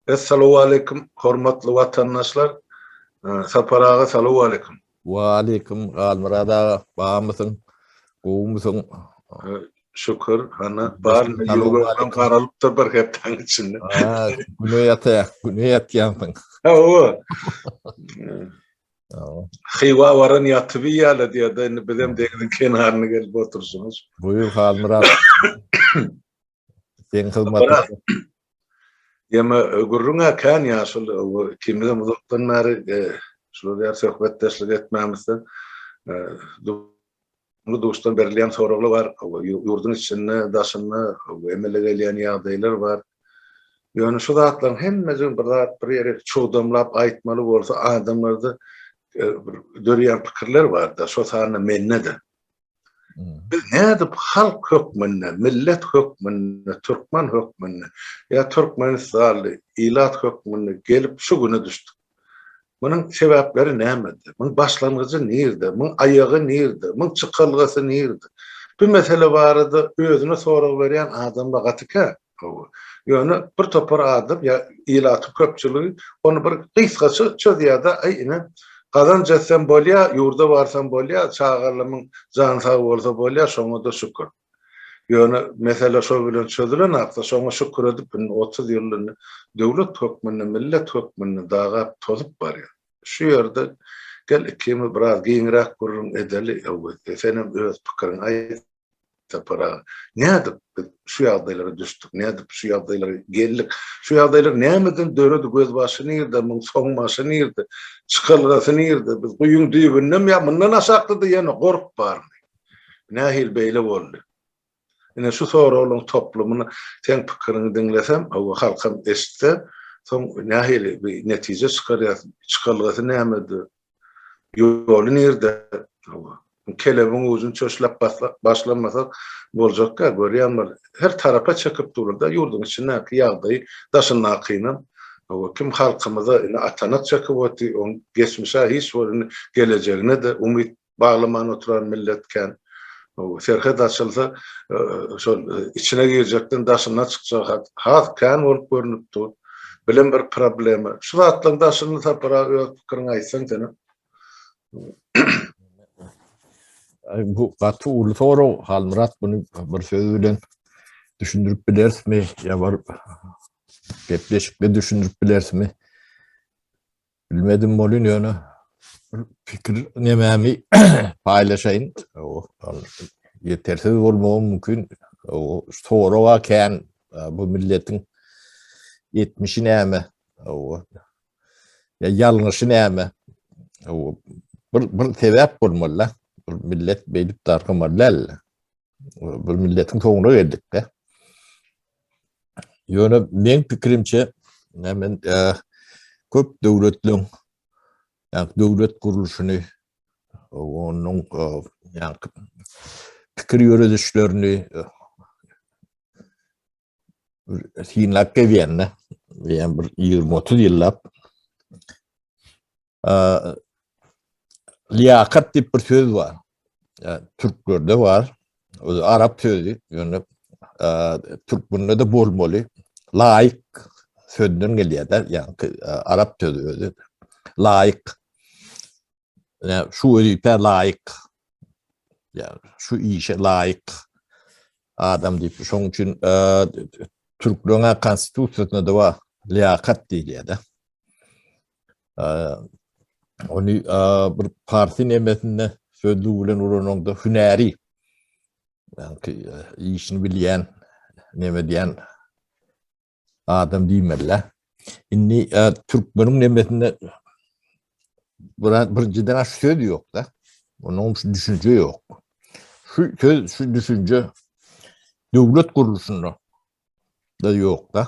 Essalowaleýkum hormatly watandaşlar Sapar aga salowaleýkum. Waleýkum Halmyrat aga bamysyň gowumysyň. Şükür hana bar ýüregim garalypdyr bir hepdäň içinde. Ha güne ýatyr güne ýatýansyň. Hawa. Hywa waran ýatyp ýaly diýýärdi indi bizem deňiziň kenaryna gelip oturşymyz. Buýur Halmyrat. Sen hyzmatyň. Ýeme gürrüňe kän ýaşyl ikimiz hem uzakdan bäri e, şular ýaly söhbetdeşlik etmämizden e, bu duşdan berilýän soraglar bar. Ýurduň içinde, daşynda emele gelýän ýagdaýlar bar. Ýöne şu zatlaryň hemmesi bir zat bir ýere çugdamlap aýtmaly bolsa adamlarda e, dörýän pikirler bar-da, şo sanda mende-de. Biz nädip halk hökmünde, millet hökmünde, türkmen hökmünde ýa türkmenistanly ilat hökmünde gelip şu güne düşdük? Munuň sebäpleri nämede? Munuň başlangyjy nirde? Munuň aýagy nirde? Munuň çykalgasy nirde? Bu mesele barada özüne sorag berýän adamlar gaty kän. Ýöne bir topar adam ýa ilatyň köpçüligi ony bir gysgaça çözýär-de, aý ine, gazanç etsem bolýa, ýurda barsam bolýa, çagalymyň jany sag bolsa bolýa, şoňa-da şükür. Ýöne mesele şo bilen çözülenakda, şoňa şükür edip, indi otuz ýyl indi döwlet hökmünde, millet hökmünde dagap-tozup barýar. Şu ýerde gel ikimiz biraz giňräk gürrüň edeli, Öwez. Senem öz pikiriňi aýt. Sapar aga, nädip biz şu ýagdaýlara düşdük, nädip şu ýagdaýlara geldik, şu ýagdaýlar nämeden döredi, gözbaşy nirde, muň soň başy nirde, çykalgasy nirde, biz guýyň düýbündemi ýa mundan aşakda-da ýene gorp barmy, nähili beýle boldy? Ine şu soraglaryň toplumyny seň pikiriňi diňlesem, hawa halkam eşitse, soň nähili bir netije çykarýas, çykalgasy nämede, Ýoly nirde? Hawa. Kelebiň ujyny çöşläp başlamasak boljakka, görýän bol, her tarapa çekip durulda, ýurduň içindäki ýagdaýy daşyndakynam, hawa, kim halkymyza indi atanak çekip oty, oň geçmişä hiç bir indi gelejegine-de umyt baglaman oturan millet kän. Serhet açylsa, şol içine girjekden daşyna çykjagy has kän bolup görnüp dur. Bilim bir problema. Şu zatlaryň daşyny Sapara öz pikiriňi aýtsaň senem. Bu gaty uly sorag. Halmyrat muny bir söz bilen düşündirip bilerismi? Ýa bir gepleşikde düşündirip bilerismi? Bilmedim bolun ýöne pikir nememi paýlaşaýyn. Ýetersiz bolmagy mümkin. Soraga kän bu milletiň etmişi näme? Ya ýalňyşy näme? Bir bir sebäp bolmaly. Bir millet beýdip dargamaly däl. Bir milletiň soňuna geldik de. Ýöne men pikirimçe, men köp döwletleň ýa-da döwlet gurluşyny onuň ýa-da pikir ýöredişlerini synlap gelýän-de, ýa-da bir 20-30 ýyllap Liýakat diýip bir söz bar. Türklerde bar. Özi arap sözi. Ýöne türkmende de bolmaly. Laýyk sözden gelýär-de, ýagny arap sözi özi. Laýyk. Ýa şu wezipä laýyk. Ýa şu işe laýyk adam diýip, şoň üçin türkleriň konstitusiýasynda da bar. Liýakat diýilýär-de. Ony bir parsin emesinde sözlü bilen ulananda hünäri ýa-da işini bilýän, näme diýen adam diýmeli. Indi türkmeniň emesinde bir birjiden aş söz ýok-da. Onuň şu düşünje ýok. Şu söz, şu düşünje döwlet gurluşynda da ýok da.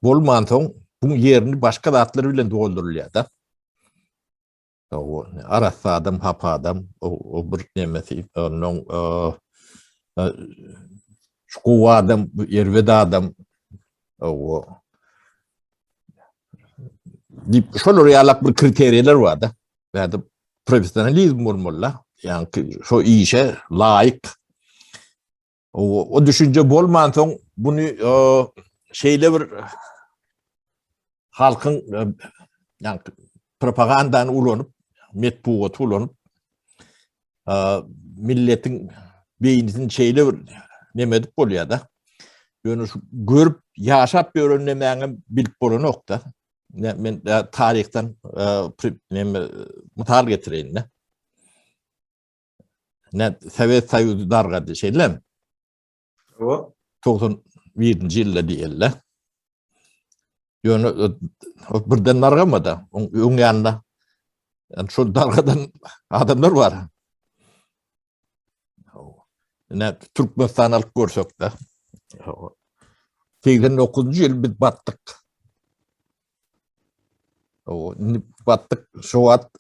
Bolmansoň bu ýerini başga zatlar bilen doldurylýar da. O arassa adam, hapa adam, o bir nemesi, ondan şu gowy adam, erbet adam, o dip şolar ýalak bir kriteriýalar bar da. Bäde professionalizm bolmaly. Ýa-ni şo işe laýyk O düşünje bolmansoň bunu şeyle bir halkın yani propagandanı ulanıp, metbugatı ulanıp milletin beynini şeyle bir nemedip bolýar da. Ýöne şu görüp, ýaşap ýören nemäňi bilip bolanok da. Men taryhdan e, e, misal getireýin. Ne Sovet Soýuzy dargady, şeýlem. O 91-nji ýylda diýildi. Ýöne birden dargamady. Öň ýanynda yani şol dargadan adamlar bar. Ne Türkmenistan alyp görsek de. 89-njy ýyl biz batdyk. O, batdyk şu wagt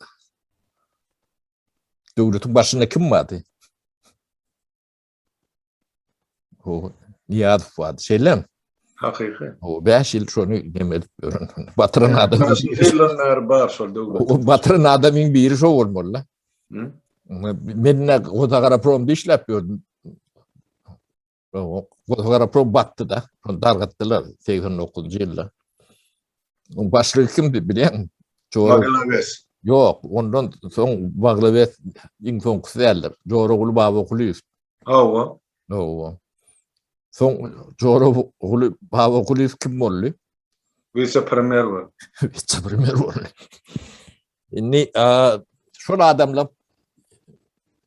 Döwletiň başynda kim bardy? O Niýazow bardy. Şeýlem. Hakyky. O 5 ýyl şony nemedip ýören. Batyran adam. Şeýleler bar şol döwlet. O batyran adamyň biri şo bolmaly. Hı? Men de Ozagara prom dişläp ýördüm. Gazagaraprow batdy-da, ony dargatdylar segsen dokuzynjy ýylda. Onuň başlygy kimdi bilýäňmi? Baglawes. Ýok, ondan soň Baglawes iň soňkusy däldir. Joraguly Babakulyýew. Hawa. Hawa. Soň Joraguly Babakulyýew kim boldy? Wise-premýer boldy. Wise-premýer boldy. Indi şol adamlar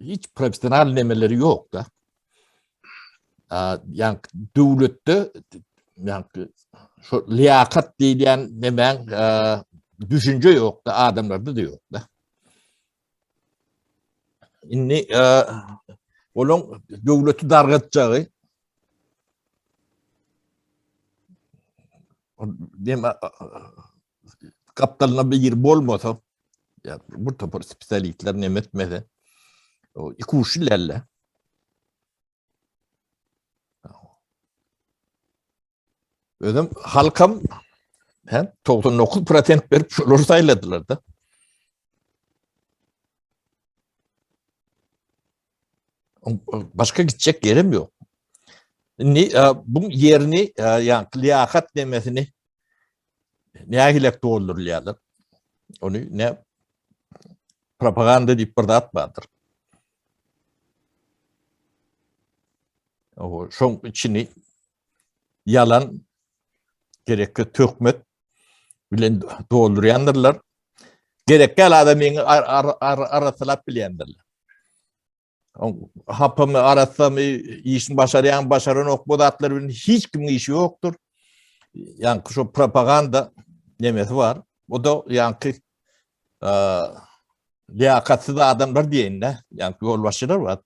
hiç profesional nemeleri yok da. Yani devlette yani şu liyakat diýilýän nemäň düşünje yok da adamlarda da yok da. Indi onun döwleti dargatjagy gapdalynda biri bolmasa, ya bu topar spesialistler ne etmese, o iki uçlu lelle. Özüm halkam hem 99 prosent verip şolar sayladılar da. Başka gidecek yerim yok. Ni, e, bu yerini e, yani liyakat demesini ne hilek doldurulýarlar. Onu ne propaganda diýip bir zat bardyr. O şoň içini ýalan gereksiz töhmet bilen doldurýandyrlar. Gerekli adam meňi arassalap bilýändirler. Hapamy, arassamy, işini başarýan, başaran ok bu zatlar bilen hiç kimiň işi ýokdur. Yani şu propaganda nemesi var. O da yani e, liyakatsiz adamlar diyeyim de. Yani yolbaşçılar var.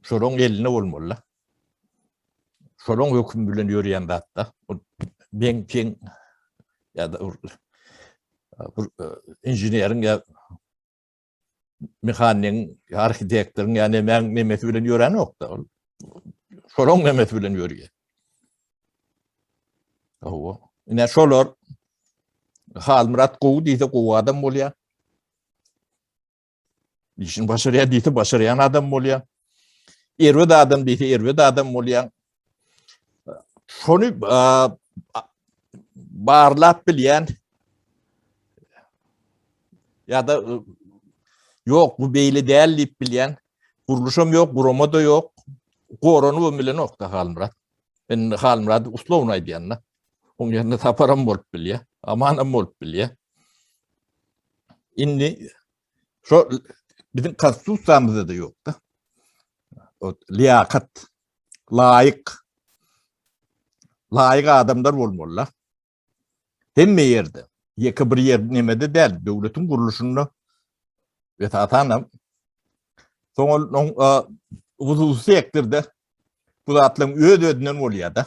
şolaryň elinde bolmaly-da. Şolaryň hökümi bilen ýöreýän zat-da. Bu ben-pen ýa-da bir e, inženeriň ýa mehanigiň, arhitektoryň ýa nemäň nemesi bilen ýören ýok-da. Şolaryň nemesi bilen ýörýär. Owo. Ine şolar Halmyrat gowy diýse gowy adam bolýar. Işini başarýar diýse başarýan adam bolýar. Erbet adam diýse erbet adam bolýar. Şony barlap bilýän ya da ýok bu beýle däl diýip bilýän gurluşam ýok, gurama da ýok. Gorany bilen okda Halmyrat. Men Halmyrady uslowny aýdýan-da. Oň ýerinde saparam bolup bilýär, amanam bolup bilýär. Indi şo biziň konstitusiýamyzda-da ýok-da. O liýakat, laýyk, laýyk adamlar bolmalylar. Hemme ýerde, ýeke bir ýer nemede däl, döwletiň gurluşynda esasan hem soň ol hususy ekdirde bu zatlaryň öz-özünden bolýar-da.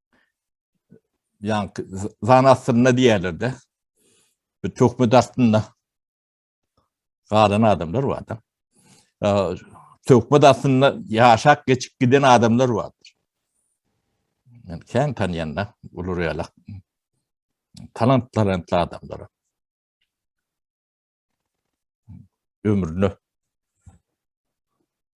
Yani zan astynda diýerlerde bir töhmet astynda galan adamlar bar da. Töhmet astynda ýaşap geçip giden adamlar bardyr. Men kän tanýanda uly reýalak talant talantly adamlar. Ömrüne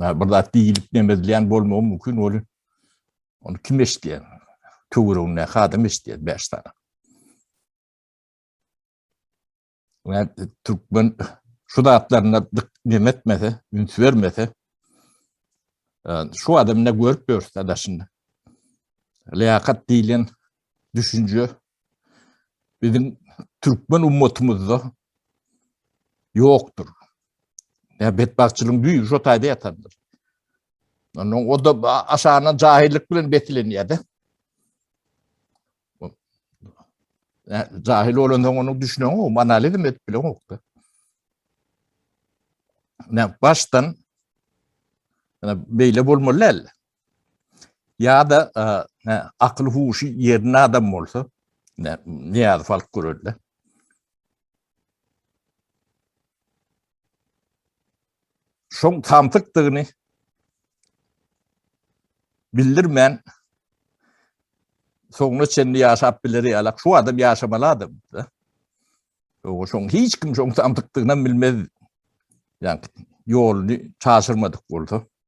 Yani bir zat diýilip demezleýän bolmagy mümkin ol. Onu kim eşitýär? Töwreginde adam eşitýär 5 sany. Yani türkmen şu zatlarına dim etmese, üns vermese, şu adamda görüp görse daşında. Liyakat diýilen düşünje biziň türkmen ummatymyzda ýokdur. Ýa betbagtçylygyň düýbi şo taýda ýatandyr. Ondan o da aşagyna jahillik bilen besilenýär-de. Jahil bolan soň onuň düşünen o, analizm edip bilen okda. Ne başdan ne beýle bolmaly däl. Ýa-da akyl-huşy ýerinde adam bolsa, Nyýazow alyp görerdi. Şoň samsykdygyny bildirmän, soňuna çenli ýaşap bileri ýalak, şu adam ýaşamaly adamdy-da. Ýogsa şoň hiç kim şoň samsykdygyny bilmezdi. Ýa ýoluny çaşyrmadyk bolsa.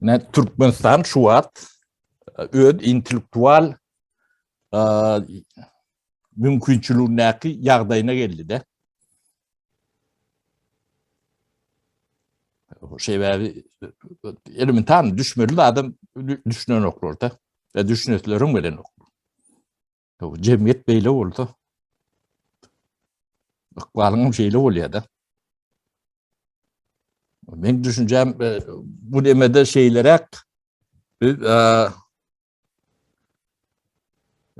Ne Türkmenistan şu wagt öz intellektual mümkinçiligindäki ýagdaýyna geldi-de. Şeýle elementar düşmeli adam düşünenoklarda. E, düşünetleriň bilen Ýok, jemgyýet beýle bolsa, ykbalyň hem şeýle bolýar-da. Men düşünjäm, e, bu demede şeýleräk, biz, e,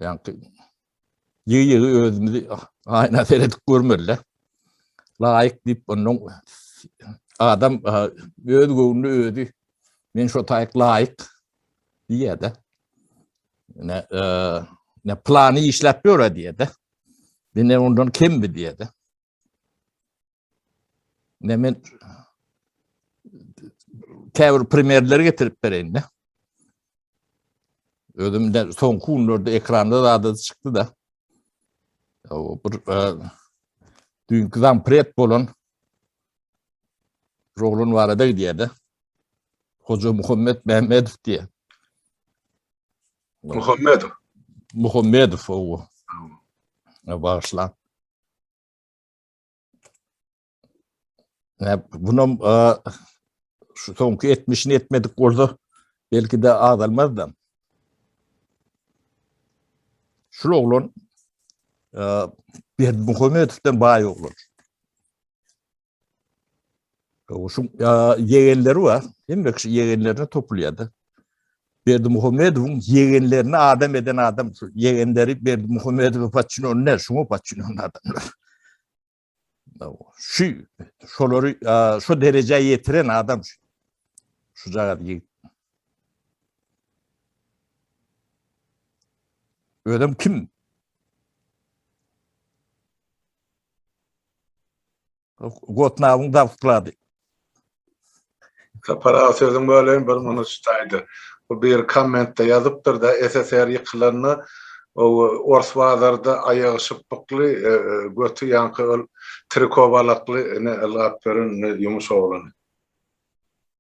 ýaňky ýygy-ýygy özümizi aýna seredip görmeli-de. Laýyk diýip, ondan adam e, öz göwnüne özi, men şo taýyk laýyk diýýär-de. Ne, e, ne plany işläp ýör diýýär-de. Dine ondan kembi diýýär-de. Ne men käbir primerleri getirip bereýin de. Özüm de soňky günlerde ekranda zada çykdy da. O bir e, dünkü zampret bolan Roglan barada gidýär-de. Hoja Muhammet Mämmedow diýýär. Muhammedow. Muhammedow owo. Bagyşlaň. Näp, bunam şu soňky etmişini etmedik bolsa belki de azalmazdan. Şul oglan Berdi Muhammedovdan baý oglan. Gowşuň ýegenleri bar. Hemme kişi ýegenlerine topulýardy. Berdi Muhammedowyň ýegenlerini adam eden adam şu ýegenleri Berdi Muhammedowy paçyn ony näme şuňa paçyn ony adamlar. Şu şolary şu derejä ýetiren adam şu. Şu jagat ýigit. Özüm kim? Gotnabyň dabklady. Sapar aga sözüň böleýin bir muny çytaýda. Bu bir kommentde ýazypdyrda SSR ýykylanda ors bazarda aýagy şypbykly göti ýaňky ol triko balakly ne ylgap ýören ne ýumuş oglany.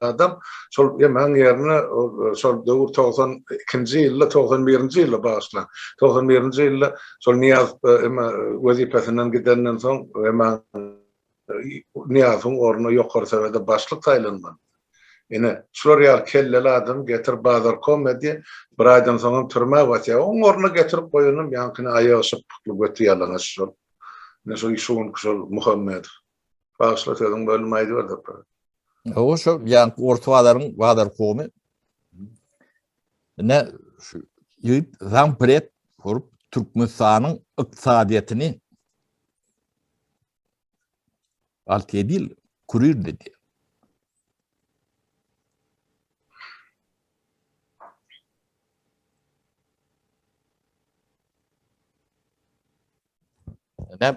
adam şol ýemegiň ýerine şol döwür togsan ikinji ýylda togsan birinji ýylda bagyşlan togsan birinji ýylda şol nyýaz eme wezipesinden gidenden soň eme nyýazyň ornuna ýokary sowete başlyk saýlanman ine şular ýaly kelleli adam getir bazar kome diýe bir aýdan soňam türmä batýa oň ornuna getirip goýanam ýaňkyny aýagy şypbykly göti ýalaňaç şol ine şol şu günki şol muhammedow Bagyşla sözüň bölüm aýdyp ber doktor. Hawa şu ýan orta bazaryň bazar komy. Ne şu ýyt zampret kurup Türkmenistanyň ykdysadyýetini alt edil kurir dedi. Ne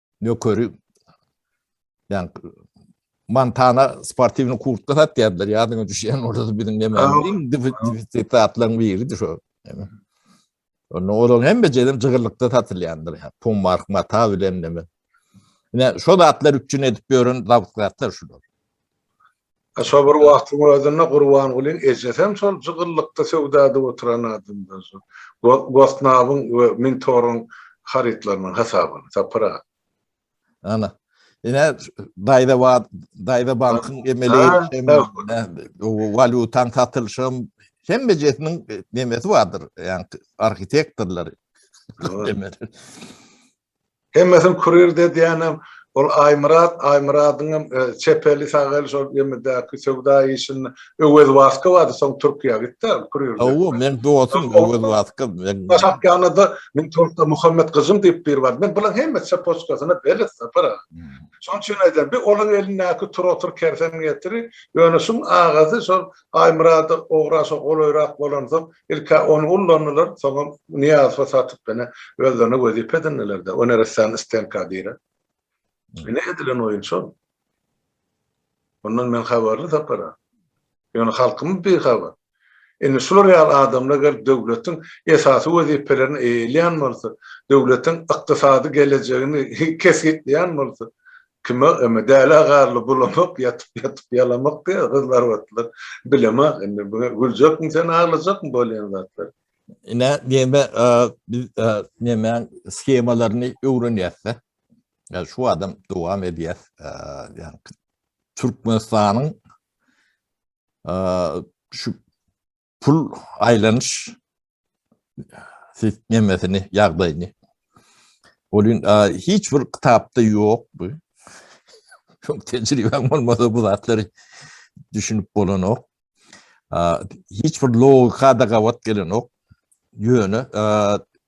nökeri yani Montana sportivni kurtka satýardylar. Ýadyňa düşýän orada da biziň nemämiz iň defisit zatlaryň biridir şo. Onda olar hem bejelim jygyrlykda satylýandyr. Yani. Pum mark mata bilen neme. Ine şo zatlar üçin edip ýören zawtkatlar şular. A şo bir wagtyň özünde Gurbangulyň ejesem şol jygyllykda söwdada oturan adamdan şo Gosnabyň we Mintoryň harytlarynyň hasabyny Sapar aga. Ana. Ine daýza wa daýza bankyň emeli walýutaň satylşam hemme jesiniň nemesi bardyr. Ýa arhitektorlary. Hemmesini kurir de diýenem ol Aýmyrat, Aýmyradyňam çep eli sag eli şol emedäki söwda işinde Öwez Wasko bardy soň Türkiýä gitdi kurir. Hawa meň dostum Öwez Wasko. Başak ýanynda meň toňkda Muhammet Gyjym diýip biri bardy. Men bulaň hemme çepoçkasyna belet Sapar aga. Şoň üçin aýdýan bir olaň elindäki tur otur kersen getiri ýöne şuň agasy şol Aýmyrada ograsa golaýrak bolansoň, ilk-ä ony ullandylar, soňam Nyýazowa satyp, ine, özlerine wezipe edindiler-de, o neressäni stenka dire. Ine, edilen oýun şol. Mundan men habarly, Sapar aga. Ýöne halkymyz bihabar. Indi şular ýaly adamlar gelip döwletiň esasy wezipelerini eýeleýän bolsa, döwletiň ykdysady gelejegini kesgitleýän bolsa, Kime öme dälä garly bulamak ýatyp ýatyp ýalamak diýýä gyzlar batlar bilema indi bu güljekmi sen aglajakmy bolýan zatlar. Ine neme biz nemäň shemalaryny öwrenýäsde ýa şu adam dowam edýäs ýa türkmenistanyň şu pul aýlanyş sistemesini, ýagdaýyny. Ol hiç bir kitapda ýok bu. Çok tecrübem olmasa bu zatları düşünüp bolan ok. Hiç bir logika da gavat gelen ok. Yöne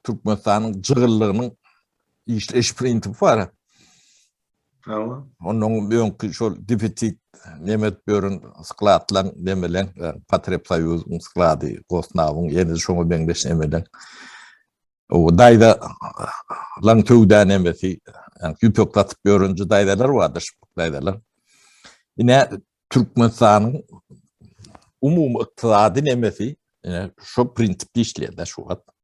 Türkmenistan'ın cığırlığının işleyiş prinsipi var. Hawa. Mundan öňki şol defisit nemes bören skladlaň nemeleň Patrep Soýuzyň sklady, Gosnawyň ýene şoňa meňzeş nemeleň. O daýza laň söwda nemesi, ýüpek satyp ýörenji daýzalar bardy, şypbak daýzalar. Ine Türkmenistanyň umumy ykdysady nemesi şu prinsipde işleýär-de şu wagt.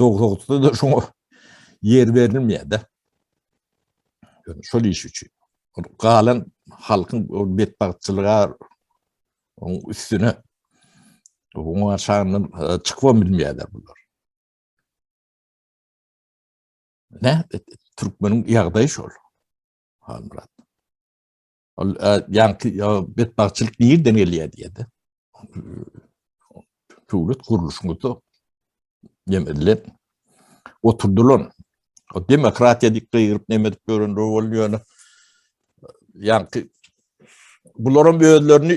Dogdukda da şoňa ýer berilmeýär-de. Şol iş üçin. Galan halkyň betbagtçylyga oň üstüne oň aşagyndan e, çykybam bilmeýärler bular. Ne? Türkmeniň ýagdaýy şol. Halmyrat. Ol ýaňky betbagtçylyk nirden gelýär diýdi. Döwlet gurluşyňda demelle oturdylan o demokratiýa diýip gygyryp neme edip ýören rowol ýöne ýaňky bularam özlerini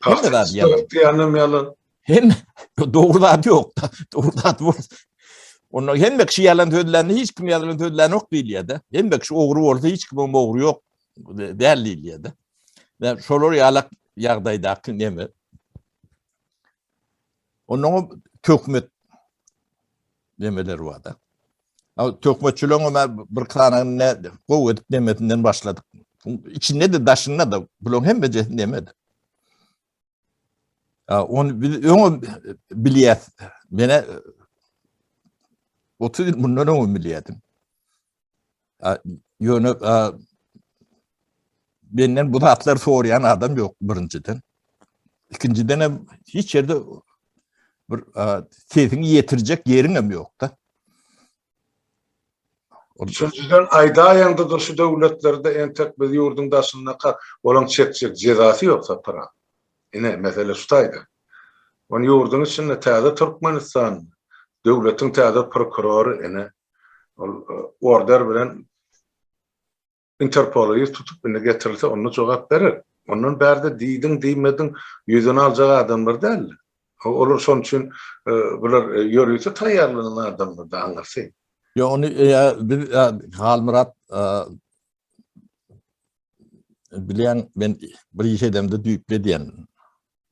Hemme zat yalan. Diyanem yalan. Hem doğru zat yok. Doğru zat var. Onlar hem kişi yalan sözlerini hiç kim yalan sözlerini yok değil ya da. Hem kişi oğru olsa hiç kim oğru yok değil değil ya da. Ve şolar yalak yağdaydaki ne mi? Onun tökmet Nemeler barda. Töhmetçileň ömer bir kanagyny ne gowy edip nemesinden başladyk. İçinde de daşynda da bulaň hemme jesi nemedi. Onu biz öňe bilýäs. Mene 30 ýyl mundan öňe bilýädim. Ýöne menden bu zatlar sorayan adam yok birinciden. İkinciden hem hiç yerde bir sesini yetirecek yerin hem yok da. Üçüncüden aydaýaňda da şu döwletlerde entek biz ýurduň daşyndaka olaň çekjek jezasy ýok sapara. Ine mesele şu taýda. Ony ýurduň içinde täze Türkmenistan döwletiň täze prokurory ene Ol e, order bilen Interpola ýüz tutup indi getirilse onda jogap berer. Ondan bärde diýdiň diýmediň ýüzüni aljak adamlar däl. Olar şoň üçin e, bular e, ýörite taýýarlanan adamlar da aňyrsy. Ýa ony e, biz e, Halmyrat e, Bilýän, men bir iş edemde düýpli edýän.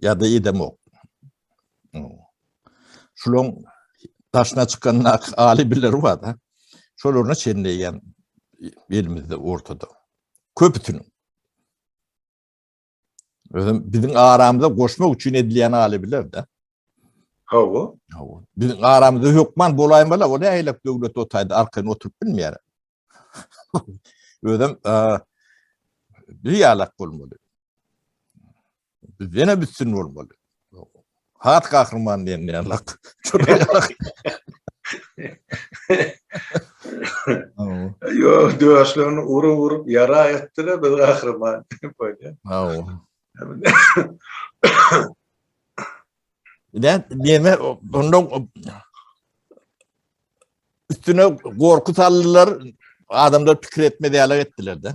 Ýa-da edemok. Şulaň daşyna çykannak aly biler bar-da. Şolaryna çenleýän elimizde ortada. Köpüsiniň. Özüm biziň aramyza goşmak üçin edilýän aly biler-de. Hawa. Hawa. Biziň aramyzda hökman bolaýan bala, o näýlek döwlet otaýda arkaýyn oturyp bilmeýär. Özüm bir ýalak bolmaly. Bizden üstün bolmaly. Hat gahryman diýen diýen lak. Yo, döşlerini urup urup yara ettiler biz gahryman. Böyle. Haw. Ýa diýme, onda üstüne gorky saldylar, adamlar pikir etmedi ýaly etdiler-de.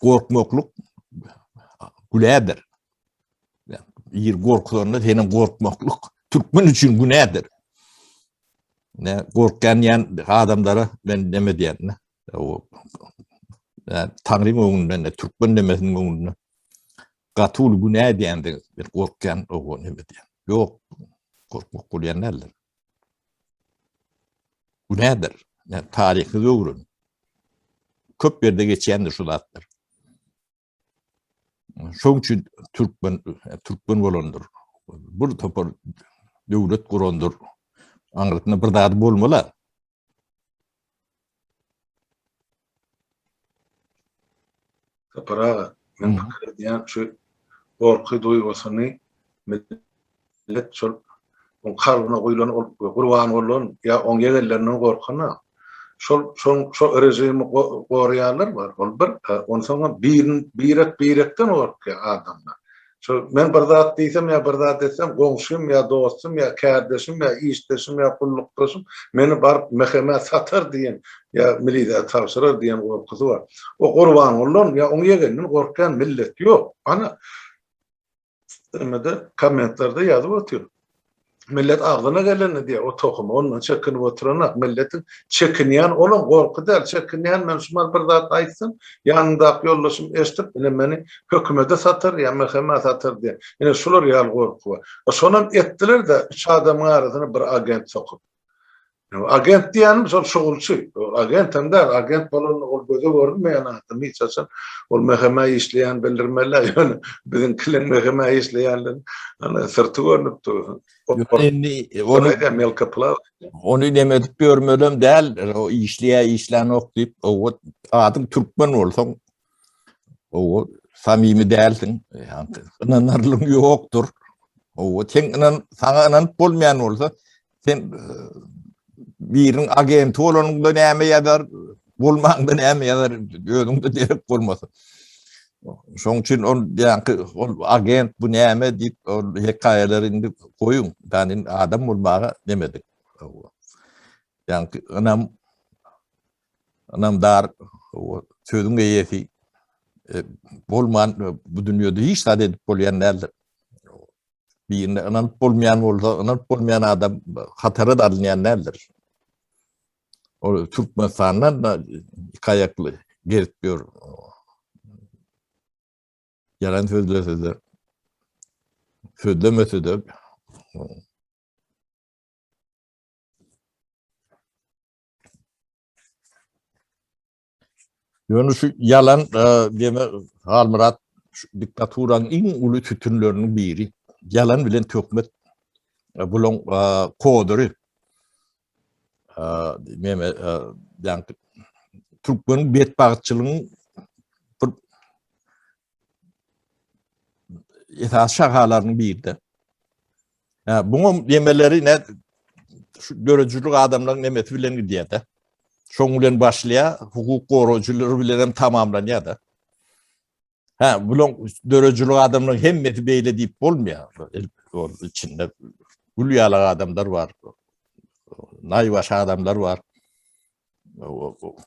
Gorkmaklyk günädir. Ýer gorkuzanda seniň gorkmaklyk türkmen üçin günädir. Ne gorkýan ýan adamlara men näme diýen? O Tanrym öňünde, ne türkmen demesiniň öňünde gaty uly günä diýende bir gorkýan o näme diýen? Ýok, gorkmak bolýan däldir. Bu näder? Ýa taryhyňyzy öwren. Köp ýerde geçýändir şu zatlar. Şoň üçin türkmen türkmen bolandyr. Bir topar döwlet gurandyr. Aňyrsyna bir zady bolmala. Sapar aga, men pikir edýän şu gorky duýgusyny millet şol oň kalbyna guýlan ol gurban bolan ýa oň ýegellerinden gorkana şol şoň şo režimi goraýanlar bar ol bir onsoňam birek birekden gorkýar adamlar Şu men bir zat diýsem ýa bir zat etsem, goňşym ýa dostum ýa kärdeşim ýa işdeşim ýa gullukdaşym meni baryp MHM-ä satar diýen ýa milisiýa tabşyrar diýen gorkusy bar. O Gurbangulydan ýa oň ýegeninden gorkýan millet ýok. Ana, kommentlarda ýazyp otyr. Millet agzyna geleni diýýär, o tohumy ondan çekinip oturanok. Milletiň çekinýän olam gorky däl, çekinýän men şu mal bir zat aýtsam, ýanymdaky ýoldaşym eşidip, ine meni hökümede satar ýa MHM-ä satar diýen, ine şular ýaly gorky bar. Şonam etdiler-de, üç adamyň arasyna bir agent sokup. Agent diýenim şol şugulçy. Agent hem däl, agent bolan ol göze görünmeýän adam hiç haçan. Ol meheme işleýän bildirmeli, ýöne biziň kiliň meheme işleýänligiň ana syrty görnüp dur. Indi ony hem ýelka pula. Ony näme edip ýörmelem däl, o işleýä işlänok diýip, owat adyň türkmen bolsaň, Owa, samimi dälsiň. Ýa-da ynanarlygyň ýokdur. Owa, sen inan, saňa inanyp bolmaýan bolsa, sen e, biriň agenti bolanyňda näme ýazar, bolmaňda näme ýazar, özüňde derek bolmasyn. Şoň üçin ol ýaňky ol agent bu näme diýip ol hekaýalary indi goýuň. Ýani adam bolmaga demedik. Owa. Ýaňky ynam Ynamdar, sözüň eýesi bolman bu dünýede hiç zat edip bolýan däldir. Birine ynanyp bolmaýan bolsa, ynanyp bolmaýan adam hatara da alynýan däldir. Ol Türkmenistandan da iki aýakly gezip ýör. Ýalan sözlese-de, sözlemese-de, Ýöne şu ýalan deme Halmyrat diktaturanyň iň uly sütünleriniň biri. Ýalan bilen töhmet bulaň kodyry. Meme ýaňky türkmeniň betbagtçylygyň bir esas şahalarynyň birinde. Ha, buňa yemeleri ne şu dörüjilik adamlaryň nemesi bilen gidýär de. Şoň bilen başlaýar, hukuk gorajylary bilen hem tamamlanýar da. Ha, bulan dörüjilik adamlaryň hemmesi beýle diýip bolmaýar. Ol içinde gül ýalak adamlar bar. Naýbaş adamlar bar.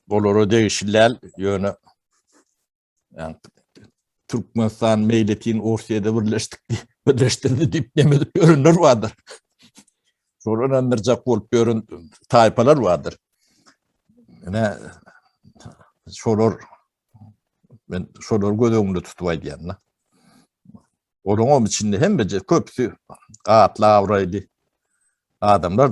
Olara degişliler ýöne Türkmenistan meýletin Orsiýada birleşdik diýip, birleşdirdi diýip nemedip ýörenler bardyr. Şol ynandyrjak bolup ýören taýpalar bardyr. Ine, şolar, men şolar göz öňünde tutup aýdýan da. Olaryň hem içinde hemmeje köpüsi atly awraýly adamlar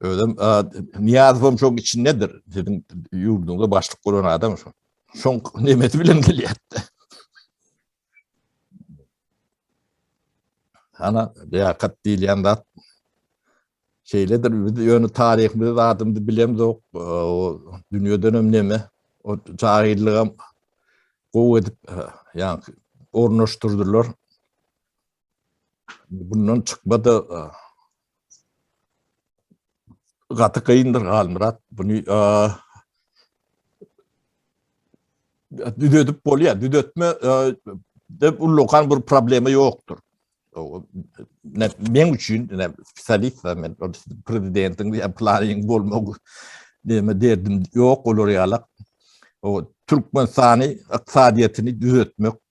Özüm Niyazowam şoň içindedir. Sizin ýurduňda başlyk bolan adam şo. Şoň nemesi bilen gelýärdi. Ana, liýakat diýilýän zat şeýledir. Biz ýöne taryhymyzy, zadymyzy bilemzok. O dünýeden hem neme, o jahillygam gowy edip, ýa ornaşdyrdylar. Bundan çykmada gaty gyndyr Halmyrat. Bunu düzedip bolýar. Düzetme dep ullakan bir problema ýokdur. Ne men üçin ne spesialist men prezidentiň ýa planyň bolmagy deme derdim ýok olar ýalak. O Türkmenistany ykdysadyýetini düzetmek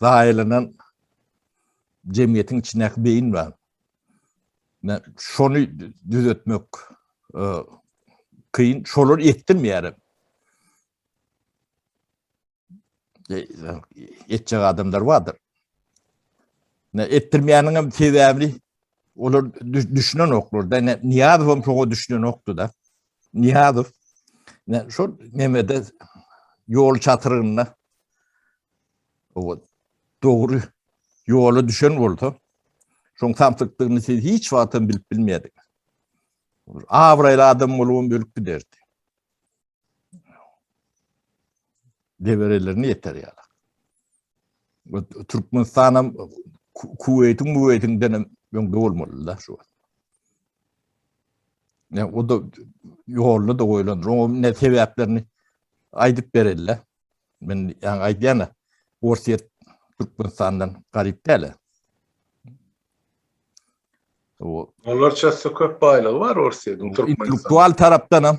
zaýalanan jemgyýetiň içindäki beýin bar. Men şony düzetmek kyn, şolar etdirmeýär. Etjek adamlar bardyr. Ne etdirmeýäniň hem sebäbini olar düşünenoklar da, Niýazow hem şoňa düşünenokdy da. Niýazow şol nemede ýol çatrygynda dogry ýola düşen bolsa, şoň samsykdygyny siz hiç wagtam bilip bilmeýärdiňiz. Abraýly adam bolubam ölüp giderdi. Deberelerine ýeter ýaly. Türkmenistan hem Kuweytiň Muweytiňden hem öňde bolmaly da şu. Ne o da ýoluna da goýlan, oňa ne sebäplerini aýdyp berelle. Men ýa aýdýana Orsýet Türkmenistandan garyp däle. O onlarça köp baýlygy bar Orsýetiň Türkmenistan. Intellektual tarapdan hem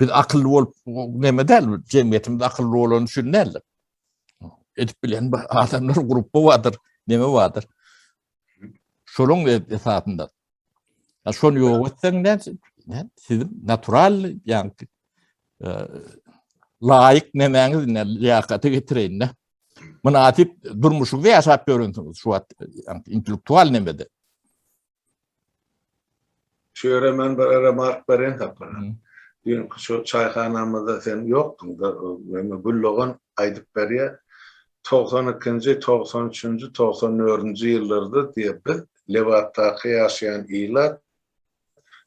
Biz akylly bolup näme däl, jemgyýetimiz akylly bolany üçin däl. Edip bilen adamlar grupy bardyr, näme bardyr. Şonuň esasynda. Ya şonu ýok etseň ne? Ne? Siz natural ýa e, laýyk nämäňiz ne liýakaty getireýin ne? Mynasyp durmuşyňyzy ýaşap ýörensiňiz şu wagt intellektual nämede. Şu ýere men bir remark bereýin Sapara. Düýnki şu çaýhanamyzda sen ýokduň, ýöne Güldogan aýdyp berýär. Togsan ikinji, togsan üçünji, togsan dördünji ýyllarda diýe biz Lebapdaky ýaşaýan ilat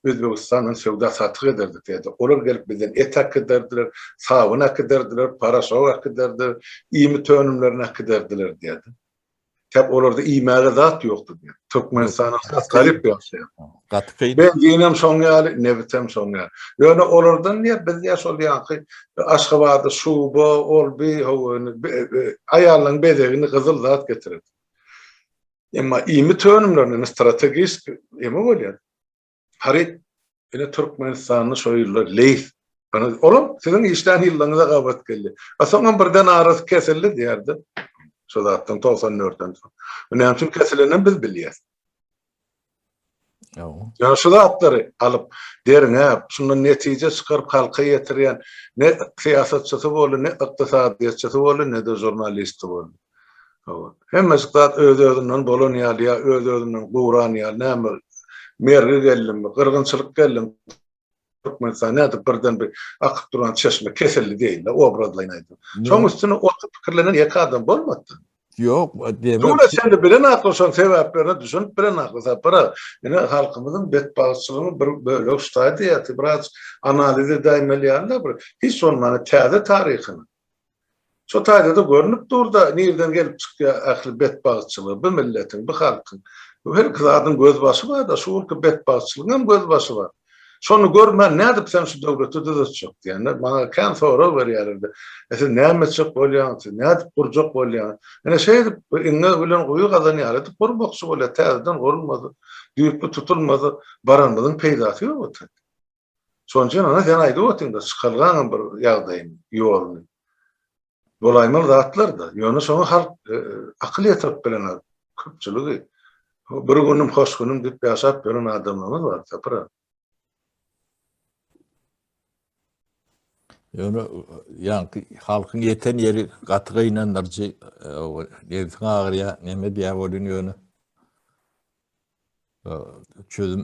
Özbegistana söwda-satyk ederdik diýýärdi. Olar gelip bizden et äkiderdiler, sabyn äkiderdiler, paraşok äkiderdiler, iýmit önümlerini äkiderdiler diýýärdi. Täp olarda iýmäge zat ýokdy diýýär. Türkmenistana has garyp ýaşaýar. Gaty kyn. Benzinem şoň ýaly, nebitem şoň ýaly. Ýöne olardan diýýär, biz diýýär şol ýaňky Aşgabada şuba, ol bi, howany, aýallaryň bezegini gyzyl zat getirerdik. Emma iýmit önümlerine strategiski ýeme bolýar. Haryt ine Türkmenistanly şo ýyllar Leýs olam siziň işlän ýyllygyňyza gabat geldi. A soňam birden arasy kesildi diýerdi. Şo zatdan 94-den soň. Bu näme üçin kesilenini biz bilýäs. Ýa şu zatlary alyp, derňäp, şundan netije çykaryp halka ýetirýän ne syýasatçysy boldy, ne ykdysadyýetçisi boldy, ne-de žurnalisti boldy. Hawa. Hemmejik zat öz-özünden bolan ýaly ýa öz-özünden guran ýaly näme ol? Mergi geldimi, gyrgynçylyk geldimi Türkmenistan nädip birden bir akyp duran çeşme kesildi deýin-le, obrazlaýyn aýdym. Şoň üstüne oturyp pikirlenen ýeke adam bolmady-da. Ýok, diýmek. Dura çenli bilen akly şoň sebäplerine düşünip bilen akly Sapar aga. Ine halkymyzyň betbagtçylygyň bir bölegi şutaý diýýär, biraz analiz edäýmeli ýaly-da bir hiç bolmanda täze taryhyny. Şo taýda-da görnüp dur-da, nirden gelip çykýar ähli betbagtçylygy bu milletiň, bu halkyň. Her iki zadyň gözbaşy bar-da, şu günki betbagtçylygyň hem gözbaşy bar. Şony görmän, nädip sen şu döwleti düzetjek diýende, maňa kän sorag berýärler-de, E, siz näme etjek bolýaňyz, siz nädip gurjak bolýaňyz? Ine, şeýdip, bir iňňe bilen guýy gazanýalydyk, gurmakçy bolýar, täzeden gurulmasa, düýpli tutulmasa, baranymyzyň peýdasy ýok otyr. Sonjan ana sen aýdyp otyňda çykalgaňam bir ýagdaýyny, ýoluny. Bolaýmaly zatlar-da. Ýöne şoňa halk akyl ýetirip bilenok, köpçüligi. Bir günüm, hoş günüm diýip ýaşap ýören adamlarymyz bar, Sapra. Ýöne ýaňky halkyň ýeten ýeri gaty gynandyryjy. Nebsiň agyrýar, näme diýýär welin ýöne çözüm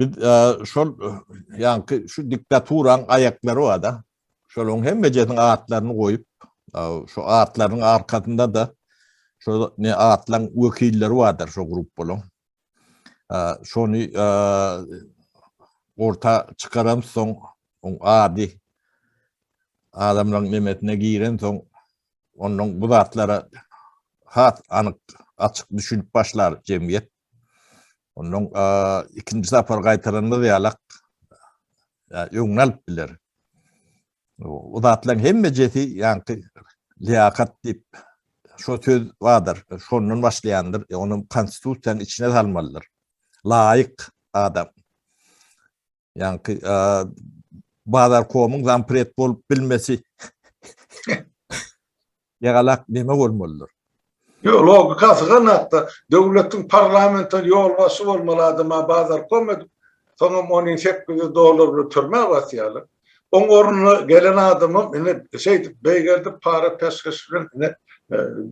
Biz şol ýaňky şu diktaturaň aýaklary bar-da. Şolaryň hemmejesiniň atlaryny goýup, şu atlaryň arkasynda-da şol ne atlaryň wekilleri bardyr şu gruppalaryň. Şony orta çykaran soň, oň ady adamlaryň nemesine giren soň, ondan bu zatlara has anyk, açyk düşünip başlar jemgyýet. Ondan ikinji sapar gaýtaranymyz ýalak öňüni alyp biler. O zatlaryň hemmejesi ýaňky liýakat diýip şo söz bardyr. Şondan başlaýandyr. Ony konstitusiýanyň içine salmalydyr. Laýyk adam. Ýaňky Bazarkomyň zampret bolup bilmesi ýagalak neme bolmalydyr? Ýok, logikasy ganatda. Döwletiň parlamentiň ýolbaşçy bolmaly adama Bazarkom edip, soňam ony sekkiz ýüz dollar bilen türmä basýarlar. Oň ornuna gelen adamam ine şeýdip, beýgeldip para peşgeş bilen ine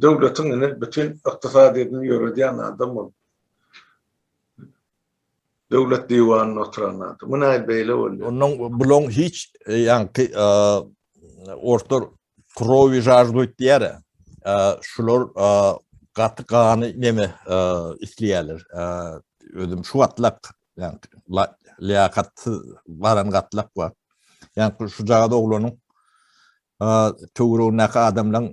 döwletiň ine bütin ykdysadyýetini ýöredýän adam bolup. Döwlet diwanynda oturan adam. Bu näl beýle bolýar? Ondan bulan hiç e, ýaňky e, orta krowi žarduýt diýär. E, şular gaty gany neme isleýärler. Özüm şu gatlak, ýaňky liýakatsyz baran gatlak bar. Ýaňky şu jagada oglanyň töwregindäki adamlaryň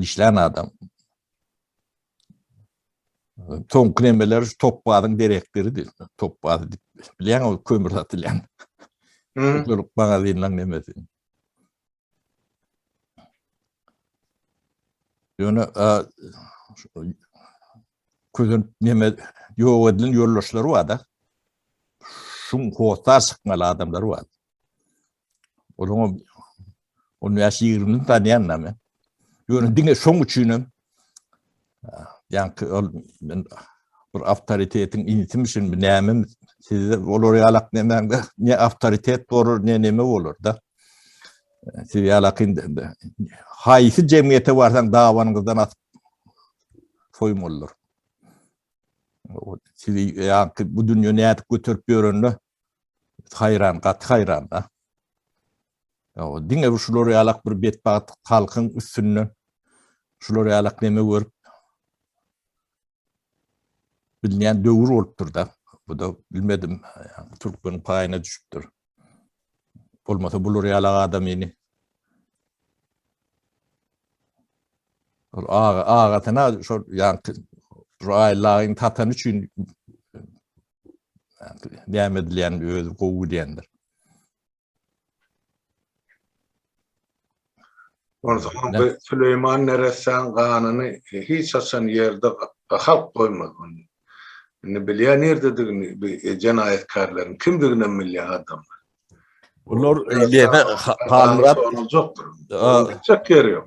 işlän adam. Ton kremeler topbazyn direktiri diýip, topbaz diýip bilýän ol kömür satylýan. Şol magazynyň nemesi. Ýöne közen neme ýok edilen ýoldaşlary bar-da. Şuň hotar çykmaly adamlar bar. Onuň on ýaş ýigrini tanýan da men. Ýöne diňe şoň üçin hem ýanky ol men bir awtoritetiň intim üçin näme sizde olar ýalak nämäňde ne awtoritet bolar ne näme bolar da. Siz ýalak indi haýsy jemgyýete barsaň dawanyňyzdan atyp soýmalylar. Sizi ýanky bu dünýä nädip götürip ýörende Haýran, gaty haýran-da. Ýa-da diňe bir şular ýalak bir betbagt halkyň üstünden şular ýalak neme görüp bilmeýän döwür bolupdyr-da. Bu-da bilmedim, türkmeniň paýyna düşüpdir. Bolmasa bular ýalak adam ýene Ol aga, agasyna şol ýaňky Aýyllagyň tatany üçin näme edilýän özi gowy gidýändir. Onsoň Süleýman neressäň ganyny hiç haçan ýerde halk goýmaz. Indi bilýän nirdedigini bu jenaýatkärleriň kimdigini hem bilýän adamlar. Bular ýene Halmyrat soruljakdyr. Gitjek ýeri ýok.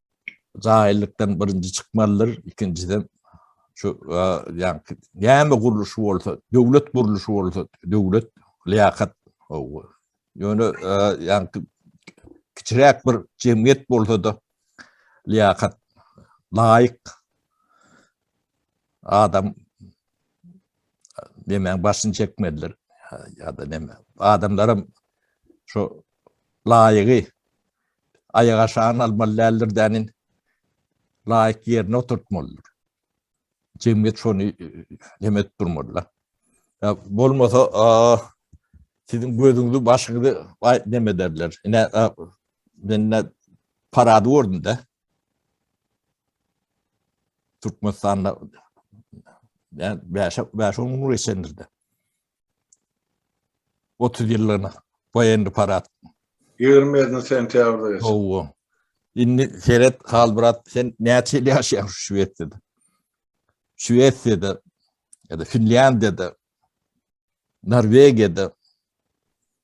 Jaýylykdan birinji çykmalydyr, ikinjiden şu ýa näme gurluşy bolsa, döwlet gurluşy bolsa, döwlet liýakat ow. Ýöne ýa kiçiräk bir jemgyýet bolsa-da liýakat laýyk adam näme başyny çekmelidir ýa-da näme. Adamlaram şu laýygy aýak aşagyny almaly däldir dänin. Laýyk ýerine oturtmalydyr. Jemgyýet şony neme edip durmalydyr. Ya bolmasa sizin gözüňüzi başyňyzy neme ederler. Ine men ne parady gördüm de. Türkmenistanda yani beşe beşe umur geçendir de. 30 ýyllygyna Woýenny parad. Ýigrimesini sentýabrda geçirdi. Hawa. Indi seret, Halmyrat, sen näçe ýyl ýaşaýaň şu Şwesiýada? Şwesiýada ýa-da Finlýandiýada, Norwegiýada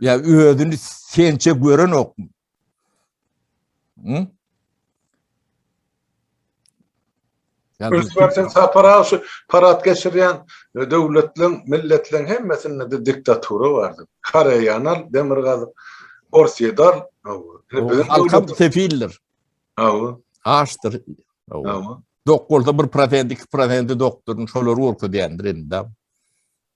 Ya özünü sençe gören ok mu? Hı? Yani Özbekistan sapara şu parat geçirýän e, döwletleň, milletleň hemmesinde de diktatura bardy. Koreýanal, demirgazyk, Orsiýadal, e, halkam sefildir. Awa. Açdyr. Awa. Doktorda bir prosent, iki prosenti doktorun şolar gorka diýendir indi.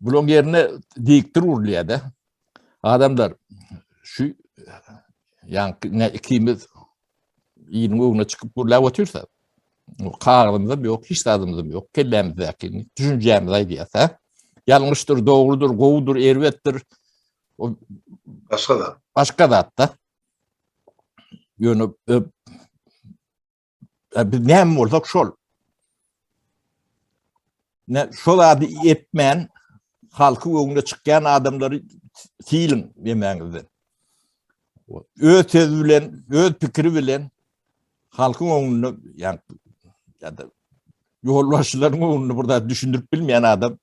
Bularyň ýerine dikdir urulýar-da. Adamlar şu ýaňky ikimiz ýylyň öňüne çykyp gürläp otyrsa, kagyzymyzam ýok, hiç zadymyzam ýok, kellämizdäki düşünjämizi aýdýarsa, ýalňyşdyr, dogrudyr, gowudyr, erbetdir. O başga zat. Başga zat-da. Ýöne E, biz näme bolsak şol. Ne şol ady etmän halky öňüne çykýan adamlary siýiň demäňizden. Öz söz bilen, öz pikiri bilen halkyň öňünde, ýa ýa-da ýolbaşçylaryň öňünde burada düşündirip bilmeýän adam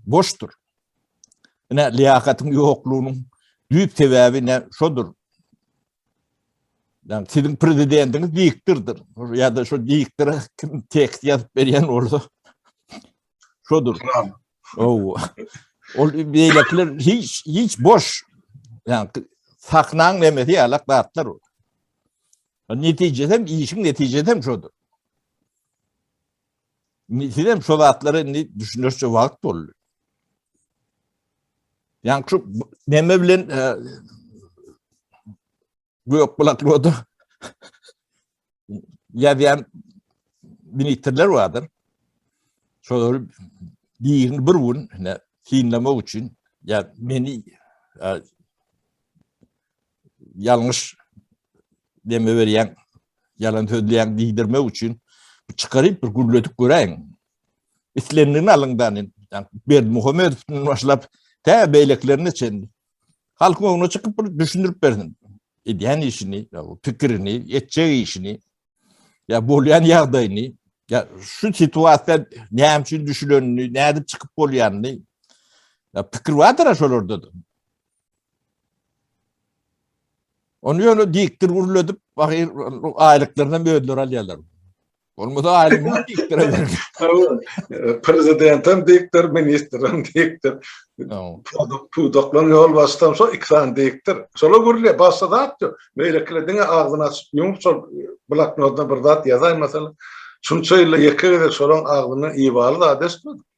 boşdur. Ine liýakatyň ýoklugynyň düýp sebäbi ne şodur. Yani sizin prezidentiniz diktirdir. Ya da şu diktire kim tekst yazıp berýän bolsa şodur. Oo. Ol beýlekiler hiç hiç boş. Yani saknaň demesi ýalak zatlar ol. Netijesi hem işiň netijesi hem şodur. Sizem şu zatlara indi düşünerçe wagt boldy. Yani şu neme bilen e, gök kulaklıda yazyan ministrler vardır. Şolar birini bir gün ne, sinlemek için ya beni e, ýalňyş deme berýän, ýalan sözleýän diýdirmek üçin çykaryp bir gürledip göräýiň. Islendigini alyňdan, yani Berdi Muhammedowdan başlap tä beýlekilerine çenli. Halkyň öňüne çykyp bir düşündirip bersin. Edýän işini, pikirini, etjek işini, ya bolýan ýagdaýyny, ya şu situasiýa näme üçin düşülenini, nädip çykyp bolýanyny, ya pikir bardyr şolarda. Onu ýöne dikdir gürledip, ahyr aýlyklaryny hem özleri alýarlar. Olmasa aýlygyny dikdir eder. Prezidentem dikdir, ministrem dikdir. Pudak, pudaklaryň ýol başdan şo iki sany dikdir. Şola gürle, başda zat ýok. Meýlekiler diňe agzyny açyp, ýumup şol bloknotda bir zat ýazaýmasal. Şunça ýylda ýeke gezek şolaň agzyny ibaly zat eşitmedik.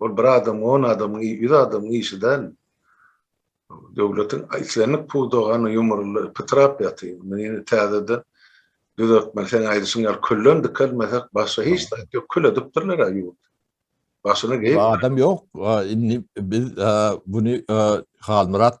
Ol bir adam, on adamyň, ýüz adamyň işi däl. Döwletiň islendik pudagy hany ýumrulyp, pytrap ýatyr. Muny ýene täzeden düzeltmeli. Seň aýdyşyň ýaly külden dikelmesek, başga hiç zat ýok. Kül edipdirler-ä ýurt. Başyny geýip. Adam ýok. Indi biz muny Halmyrat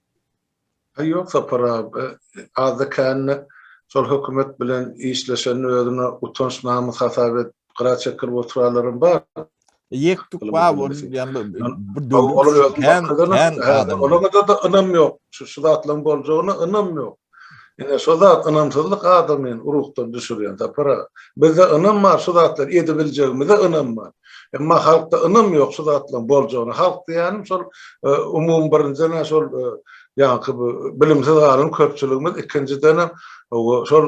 Aý ýok Sapar aga, azda kände şol hökümet bilen işleşenini özüne utanç namys hasap edip gyra çekilip oturanlaram bar. Ýek tuk bar ol diýen bir döwlet kän kän adam. Olara-da ynam ýok. Şu zatlaryň boljagyna ynam ýok. Ine şo zat ynamsyzlyk adamyny ruhdan düşürýän Sapar aga. Bizde ynam bar şu zatlary edibiljegimize ynam bar. Emma halkda ynam ýok şu zatlaryň boljagyna. Halk diýýänim şol umumy birinjiden-ä şol ýaňky bu bilimsiz galan köpçüligimiz ikinjidenem şol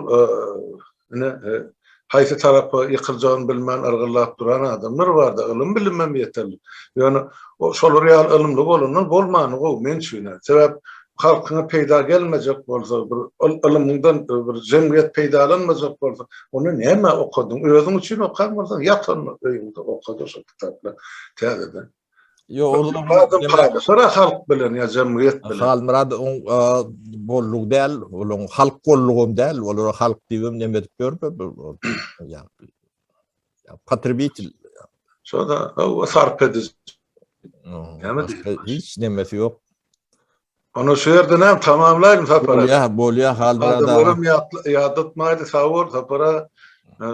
Ine, haýsy tarapa ýykyljagyny bilmän yrgyllap duran adamlar bar-da, ylym-bilimem ýeterlik. Ýöne şolar ýaly ylymly bolandan bolmany gowy, men üçin-ä. Sebäp halkyňa peýda gelmejek bolsa, bir ylymyňdan bir jemgyýet peýdalanmajak bolsa, onda nämä okadyň? Özüň üçin okan bolsaň, ýat onda öýüňde, oka-da şol kitaplary täzeden. Ýok, ol Halmyrat halk bilen ýa jemgyýet bilen. Halmyrat oň golluk däl, olaň halk gollugam däl, olar halk diýibem neme edip ýörler. Potrebitel. Şoda o sarp ediş. Hiç nemesi ýok. Onu şu ýerden hem tamamlaýyn sapara. Bolýa, bolýa halmyrat. Adam ýatlatmaýdy, sag bol sapara.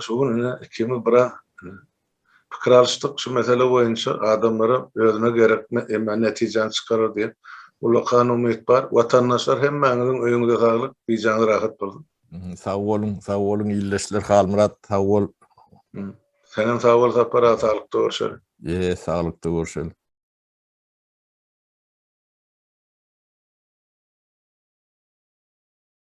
Şu gün ine ikimiz bira Pikir alyşdyk, şu mesele boýunça adamlara özüne gerekmi, emma netijäni çykarar diýen ullakan umyt bar. Watandaşlar hemmäňiziň öýüňize saglyk, bijaňyz rahat bolsun. Sag boluň, sag boluň ildeşler, Halmyrat sag bol. Senem sag bol Sapar aga, saglykda görşeli. Eee saglykda görşeli.